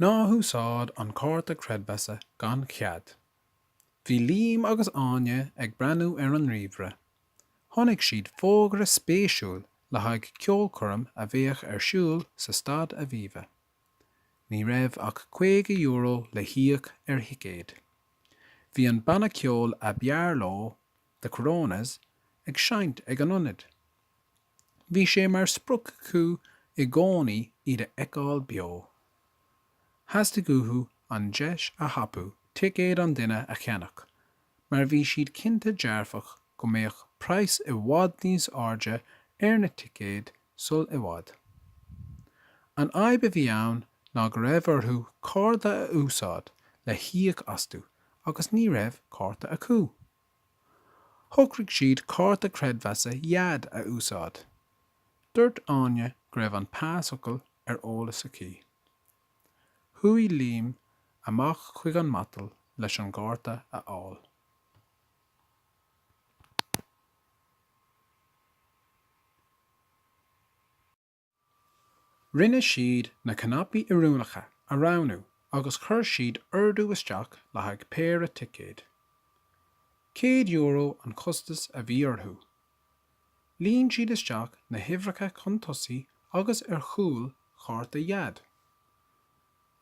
Ná húsáid an cárta creidmheasa gan chead. Bhí Liam agus Áine ag breathnú ar an ríomhaire. Chonaic siad fógra spéisiúil le haghaidh ceolchoirm a bheadh ar siúl sa Staid Aviva. Ní raibh ach €50 le híoc ar thicéad. Bhí an banna ceoil ab fhearr leo, The Coronas, ag seinnt ag an ionad. Bhí sé mar sprioc acu i gcónaí iad a fheiceáil beo. Theastaigh uathu an deis a thapú ticéad an duine a cheannach mar bhí siad cinnte dearfach go mbeadh praghas i bhfad níos airde ar na ticéid sul i bhfad. An fhadhb a bhí ann ná go raibh orthu cárta a úsáid le híoc astu agus ní raibh cárta acu. Shocraigh siad cárta creidmheasa Dhaid a úsáid. Dúirt Áine go raibh an pasfhocal ar eolas aici. Chuaigh Liam amach chuig an matal leis an gcárta a fháil. Rinne siad na cnaipí oiriúnacha a roghnú agus chuir siad ordú isteach le haghaidh péire ticéad. Céad euro an costas a bhí orthu. Líon siad isteach na huimhreacha chun tosaigh agus ar chúl chárta Dhaid.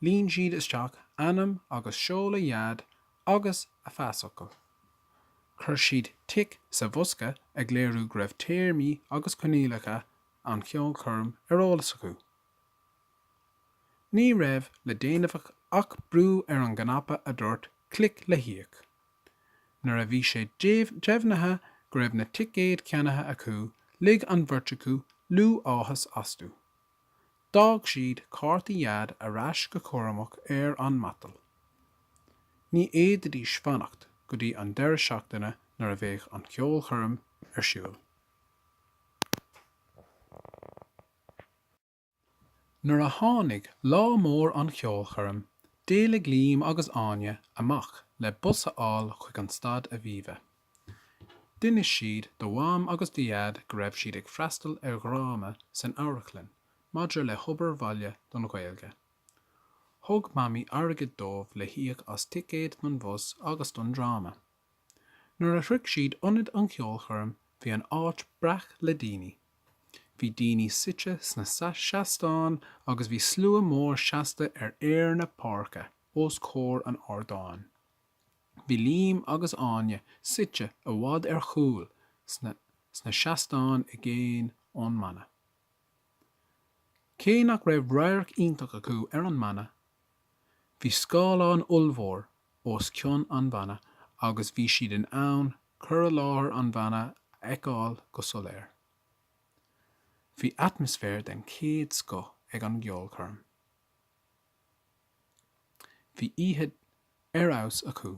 Líon siad isteach ainm agus seoladh Dhaid agus a phasfhocal. Chuir siad tic sa bhosca ag léiriú go raibh téarmaí agus coinníollacha an cheolchoirm ar eolas acu. Ní raibh le déanamh ach brú ar an gcnaipe a dúirt 'clic le híoc'. Nuair a bhí sé deimhnithe go raibh na ticéid ceannaithe acu lig an bheirt acu liú áthais astu. D'fhág siad cártaí Dhaid ar ais go cúramach ar an matal. Ní fhéadfaidís fanacht go dtí an deireadh seachtaine nuair a bheadh an cheolchoirm ar siúl. Nuair a tháinig lá mór an cheolchoirm, d'éalaigh Liam agus Áine amach le bus a fháil chuig an staid Aviva. D'inis siad do Mham agus do Dhaid go raibh siad ag freastal ar dhráma san amharclann maidir le hobair bhaile don Ghaeilge. Thug Mamaí airgead dóibh le híoc as ticéad don bhus agus don dráma. Nuair a shroich siad ionad an cheolchoirm bhí an áit breac le daoine. Bhí daoine suite sna seastáin agus bhí slua mór seasta ar fhéar na páirce os comhair an ardáin. Bhí Liam agus Áine suite i bhfad ar chúl sna seastáin i gcéin ón mbanna. Cé nach raibh radharc iontach acu ar an mbanna, bhí scáileán ollmhór os cionn an bhanna agus bhí siad in ann cur i láthair an bhanna a fheiceáil go soiléir. Bhí atmaisféar den chéad scoth ag an gceolchoirm. Bhí oíche ar fheabhas acu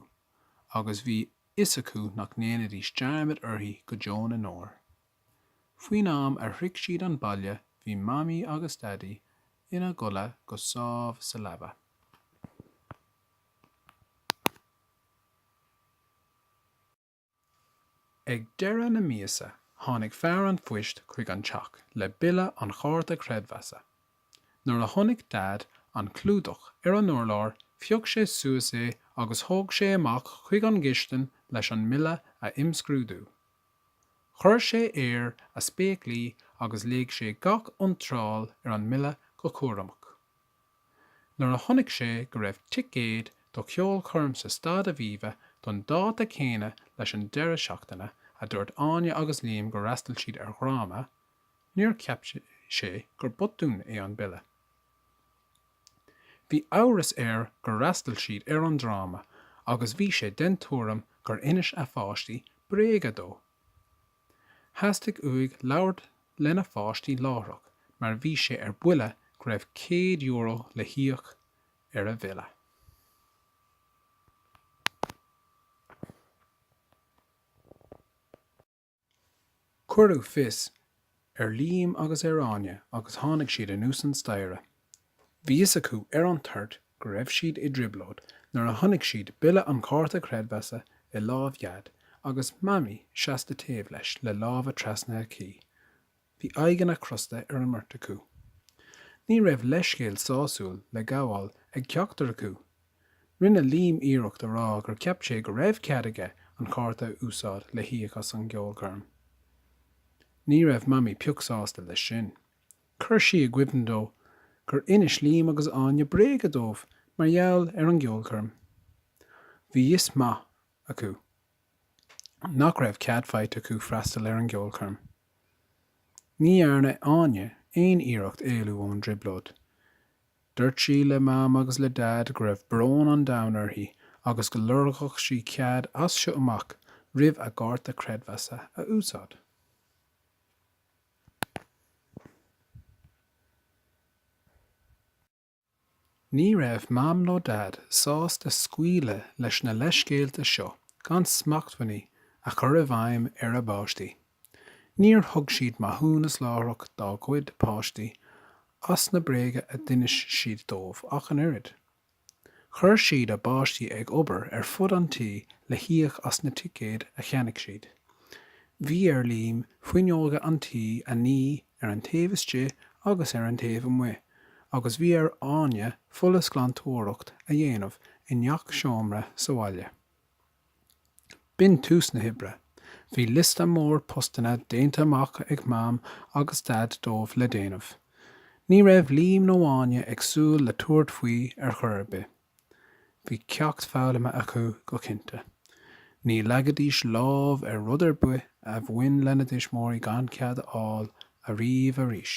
agus bhí fhios acu nach ndéanfaidís dearmad uirthi go deo na ndeor. Faoin am ar shroich siad an baile bhí Mamaí agus Daidí ina gcodladh go sámh sa leaba. Ag deireadh na míosa tháinig fear an phoist chuig an teach le bille an chárta creidmheasa. Nuair a chonaic Daid an clúdach ar an urlár phioc sé suas é agus thóg sé amach chuig an gcistin leis an mbille a imscrúdú. Chuir sé air a spéaclaí agus léigh sé gach iontráil ar an mbille go cúramach. Nuair a chonaic sé go raibh ticéad do cheolchoirm sa Staid Aviva don dáta céanna leis an deireadh seachtaine a dúirt Áine agus Liam gur fhreastail siad ar dhráma, níor cheap sé gur botún é an bille. Bhí amhras air gur fhreastail siad ar an dráma agus bhí sé den tuairim gur inis a pháistí bréaga dó. Theastaigh uaidh labhairt lena pháistí láithreach mar bhí sé ar buile go raibh €100 le híoc ar a bhille. Cuireadh fios ar Liam agus ar Áine agus tháinig siad anuas an staighre. Bhí fhios acu ar an toirt go raibh siad i dtrioblóid nuair a chonaic siad bille an chárta creidmheasa i lámh Dhaid agus Mamaí seasta taobh leis le lámha trasnaithe aici. Bhí aghaidheanna crosta ar an mbeirt acu. Ní raibh leithscéal sásúil le gabháil ag ceachtar acu. Rinne Liam iarracht a rá gur cheap sé go raibh cead aige an cárta a úsáid le híoc as an gceolchoirm. Ní raibh Mamaí pioc sásta leis sin. Chuir sí i gcuimhne dó gur inis Liam agus Áine bréaga dóibh mar gheall ar an gceolchoirm. Bhí a fhios maith acu nach raibh cead faighte acu freastal ar an gceolchoirm. Ní dhearna Áine aon iarracht éalú ón dtrioblóid. Dúirt sí le Mam agus le Dad go raibh brón an domhain uirthi agus go lorgódh sí cead as seo amach roimh a gcárta creidmheasa a úsáid. Ní raibh Mam nó Dad sásta scaoileadh leis na leithscéalta seo gan smachtbhannaí a chur i bhfeidhm ar a bpáistí. Níor thug siad maithiúnas láithreach dá gcuid páistí as na bréaga a d'inis siad dóibh ach an oiread. Chuir siad a bpáistí ag obair ar fud an tí le híoc as na ticéid a cheannaigh siad. Bhí ar Liam fuinneoga an tí a ní ar an taobh istigh agus ar an taobh amuigh agus bhí ar Áine folúsghlantóireacht a dhéanamh i ngach seomra sa bhaile. B'in tús na hoibre. Bhí liosta mór postanna déanta amach ag Mam agus Dad dóibh le déanamh. Ní raibh Liam nó Áine ag súil le tabhairt faoi ar chor ar bith. Bhí ceacht foghlamtha acu go cinnte. Ní leagfaidís lámh ar rud ar bith a bhain lena dtuismeoirí gan cead a fháil ariamh arís.